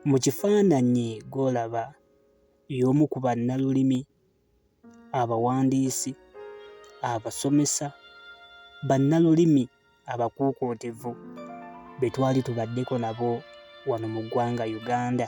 Mu kifaananyi gw'olaba y'omu ku bannalulimi, abawandiisi, abasomesa, bannalulimi abakuukuutivu be twali tubaddeko nabo wano mu ggwanga Uganda.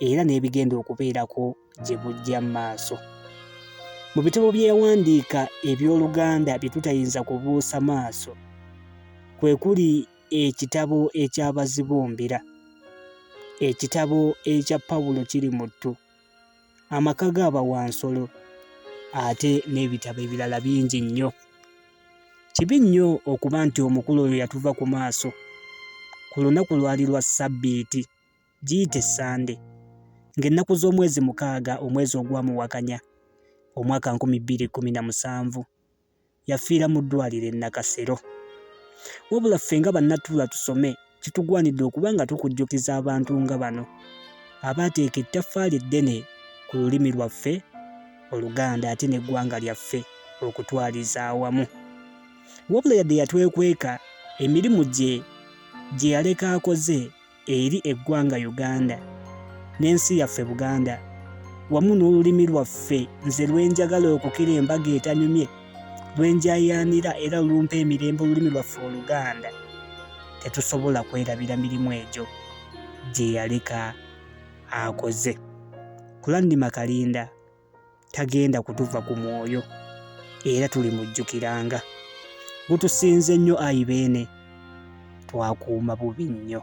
era n'ebigenda okubeerako gye bujja mu maaso. Mu bitabo bye yawandiika eby'Oluganda bye tutayinza kubuusa maaso, kwe kuli ekitabo eky'Abazibumbira, ekitabo ekya Pawulo kiri mu ttu, amaka g'abawansolo, ate n'ebitabo ebirala bingi nnyo. Kibi nnyo okuba nti omukulu oyo yatuva ku maaso ku lunaku lwali lwa Ssabbiiti giyite Ssande, ng'ennaku z'omwezi mukaaga omwezi ogwa Muwakanya omwaka nkumi bbiri kkumi na musanvu yafiira mu ddwaaliro e Nakasero. Wabula ffe nga bannatuula tusome kitugwanidde okuba nga tukujjukiza abantu nga bano abaateeka ettaffaali eddene ku lulimi lwaffe Oluganda ate n'eggwanga lyaffe okutwaliza awamu. Wabula yadde yatwekweka emirimu gye gye yaleka akoze eri eggwanga Uganda n'ensi yaffe Buganda wamu n'olulimi lwaffe nze lwenjagala okukira embaga etanyumye lwenjayaanira era olumpa emirembe olulimi lwaffe Oluganda tetusobola kwerabira mirimu egyo gye yaleka akoze. Kulannima Kalinda. tagenda kutuva ku mwoyo era tuli mujjukiranga gutusinze nnyo ayi beene twakuuma bubi nnyo